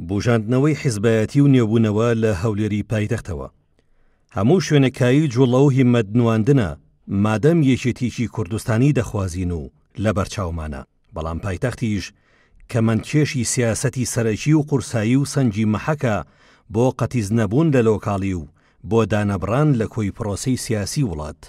بوژاندنەوەی حیزبایەتی و نوێبوونەوە لە هەولێری پایتەختەوە هەموو شوێنە کایی جوڵە و هیمەت نواندنە مادەم یەکێتیی کوردستانی دەخوازین و لەبەرچاومانە، بەڵام پایتەختیش کەمەندکێشی سیاسەتی سەرەکی و قورسایی و سەنگی مەحەکە بۆ قەتیس نەبوون لە لۆکاڵی و بۆ دانەبڕان لە کۆی پرۆسەی سیاسی وڵات.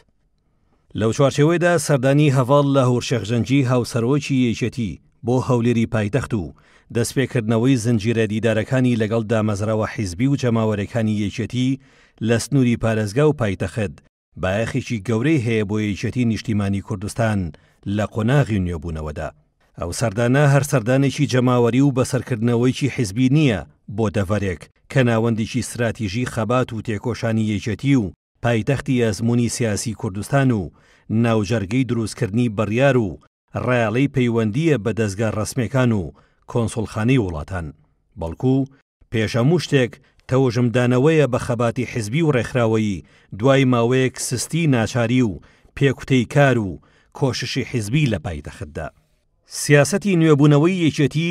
لەو چوارچێوەیدا سەردانی هەڤاڵ لاهور شێخ جەنگی هاوسەرۆکی یەکێتی بۆ هەولێری پایتەخت و دەستپێکردنەوەی زنجیرە دیدارەکانی لەگەڵ دامەزراوە حیزبی و جەماوەرێکانی یەکێتی لە سنوری پارێزگا و پایتەخت بایەخێکی گەورەی هەیە بۆ یەکێتی نیشتیمانی کوردستان لە قۆناغی نوێبونەوەدا. ئەو سەردانە هەر سەردانێکی جەماوەری و بەسەرکردنەوەیکی حیزبی نییە بۆ دەڤەرێک کە ناوەندیکی ستراتیژی خەبات و تێکۆشانی یەکێتی و پایتەختی ئەزموونی سیاسی کوردستان و ناوجەرگەی دروستکردنی بڕیار و ڕایەڵەی پەیوەندییە بە دەزگا ڕەسمیەکان و کۆنسوڵخانەی وڵاتان، بەڵکوو پێش هەموو شتێک تەوژمدانەوەیە بە خەباتی حزبی و ڕێکخراوەیی دوای ماوەیەک سستی ناچاری و پێکوتەی کار و کۆششی حزبی لە پایتەختدا. سیاسەتی نوێبوونەوەی یەکێتی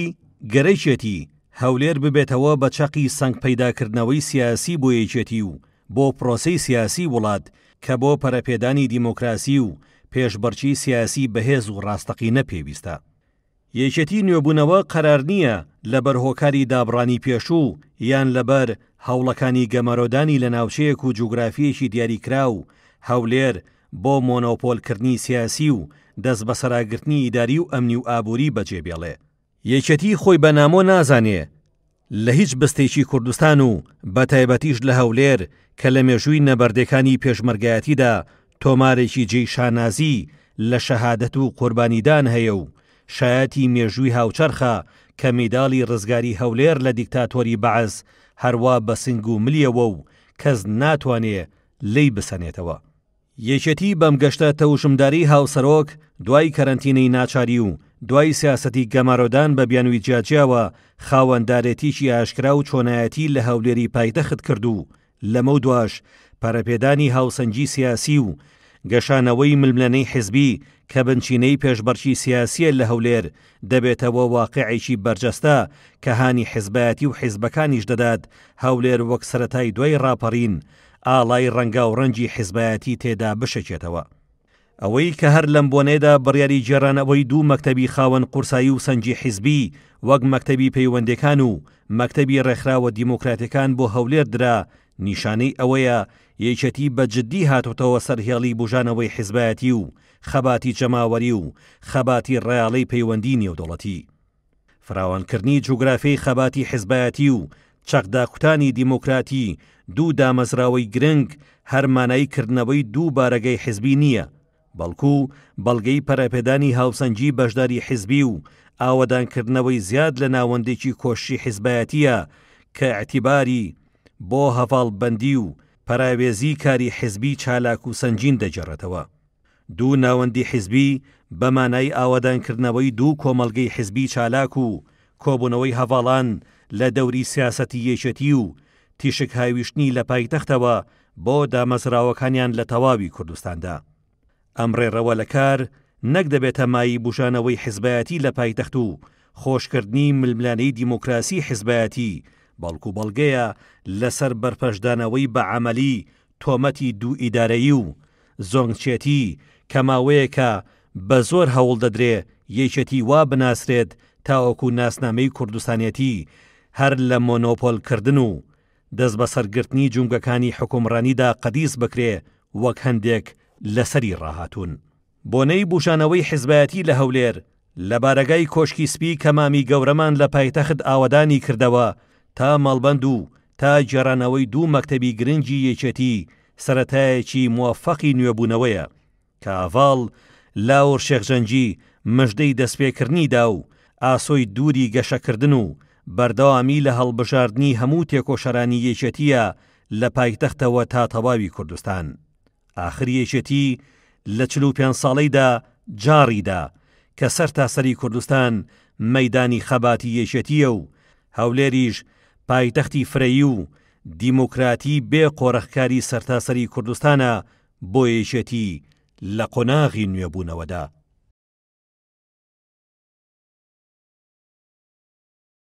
گەرەکێتی هەولێر ببێتەوە بە چەقی سەنگ پەیداکردنەوەی سیاسی بۆ یەکێتی و بۆ پرۆسەی سیاسی وڵات کە بۆ پەرەپێدانی دیمۆکراسی و پێشبڕکی سیاسی بەهێز و ڕاستەقینە پێویستە. یەکێتی نوێبوونەوە قەرار نییە لەبەر هۆکاری دابڕانی پێشوو یان لەبەر هەوڵەکانی گەمارۆدانی لە ناوچەیەک و جوگرافییەکی دیاریکراو، هەولێر، بۆ مۆنۆپۆل کردنی سیاسی و دەست بەسەراگرتنی ئیداری و ئەمنی و ئابوری بەجێ بێڵێ. یەکێتی خۆی بە نامۆ نازانێ لە هیچ بستێکی کوردستان و بە تایبەتیش لە هەولێر کە لە مێژووی نەبەردێکانی پێشمەرگایەتیدا تۆمارێکی جێی شانازی لە شەهادەت و قوربانیدان هەیە و شایەتی مێژووی هاوچەرخە کە میداڵی رزگاری هەولێر لە دیکتاتۆری بەعس هەروا بە سنگ و ملیەوە و کەس ناتوانێ لێی بسەنێتەوە. یەکێتی بەم گەشتە تەوشمداری هاوسەرۆک دوای کەرەنتینەی ناچاری و دوای سیاسەتی گەمارۆدان بە بیانوی جیاجیاوە خاوەندارێتیی ئاشکرا و چۆنایەتی لە هەولێری پایتەخت کرد و لەمەودواش پەرەپێدانی هاوسەنگی سیاسی و گەشانەوەی ململەنێی حزبی کە بنچینەی پێشبڕکی سیاسییە لە هەولێر دەبێتەوە واقیعێکی بەرجەستە کە هانی حزبایەتی و حزبەکانیش دەدات هەولێر وەک سەرەتای دوای ڕاپەڕین ئاڵای ڕەنگاو ڕەنگی حیزبایەتی تێدا بشەکێتەوە. ئەوەی کە هەر لەم بۆنەیەدا بڕیاری گێڕانەوەی دوو مەکتەبی خاوەن قورسایی و سەنگی حیزبی وەک مەکتەبی پەیوەندێکان و مەکتەبی ڕێکخراوە دیموکراتێکان بۆ هەولێر درا نیشانەی ئەوەیە یەکێتی بە جدی هاتۆتەوە سەر هێڵی بوژانەوەی حیزبایەتی و خەباتی جەماوەری و خەباتی ڕەاڵی پەیوەندی نێودەوڵەتی. فراوانکردنی جوگرافیای خەباتی حزبایەتی و چەقداکوتانی دیموکراتی دوو دامەزراوەی گرنگ هەر مانای کردنەوەی دوو بارەگای حزبی نییە، بەڵکو بەڵگەی پەرەپێدانی هاوسەنگی بەشداری حزبی و ئاوەدانکردنەوەی زیاد لە ناوەندێکی کۆششی حزبایەتییە کە ئیعتیباری بۆ هەڤاڵبەندی و پەراوێزی کاری حزبی چالاک و سەنگین دەگێڕێتەوە. دوو ناوەندی حیزبی بە مانای ئاوەدانکردنەوەی دوو کۆمەڵگەی حیزبی چالاک و کۆبوونەوەی هەڤاڵان لە دەوری سیاسەتی یەکێتی و تیشک هاویشتنی لە پایتەختەوە بۆ دامەزراوەکانیان لە تەواوی کوردستاندا. ئەم ڕێڕەوە لە کار نەک دەبێتە مایەی بوژانەوەی حیزبایەتی لە پایتەخت و خۆشکردنی ململانێی دیموکراسی حیزبایەتی، بەڵکو بەڵگەیە لەسەر بەرپەرچدانەوەی بە عەمەلی تۆمەتی دوو ئیدارەیی و زۆنگچێتی کە ماوەیەکە بە زۆر هەوڵ دەدرێ یەکێتی وا بناسرێت تاوەکو ناسنامەی کوردستانێتی هەر لە مۆنۆپۆل کردن و دەستبەسەر گرتنی جومگەکانی حکومڕانیدا قەدیس بکرێ وەک هەندێک لەسەری ڕاهاتوون. بۆنەی بوژانەوەی حیزبایەتی لە هەولێر لە بارەگای کۆشکی سپی کە مامی گەورەمان لە پایتەخت ئاوەدانی کردەوە تا مەڵبەند و تا گێڕانەوەی دوو مەکتەبی گرنگی یەکێتی سەرەتایەکی موەفەقی نوێبوونەوەیە کە هەڤاڵ لاور شێخ جەنگی مژدەی دەستپێکردنی دا و ئاسۆی دووری گەشەکردن و بەردەوامی لە هەڵبژاردنی هەموو تێکۆشەرانی یەکێتییە لە پایتەختەوە تا تەواوی کوردستان. ئاخر یەکێتی لە چل و پێنج ساڵەیدا جاڕیدا کە سەر تاسەری کوردستان مەدانی خەباتی یەکێتیە و هەولێریش پایتەختی فرەیی و دیموکراتی بێ قۆرەخکاری سەرتاسەری کوردستانە بۆ یەکێتی لە قۆناغی نوێبوونەوەدا.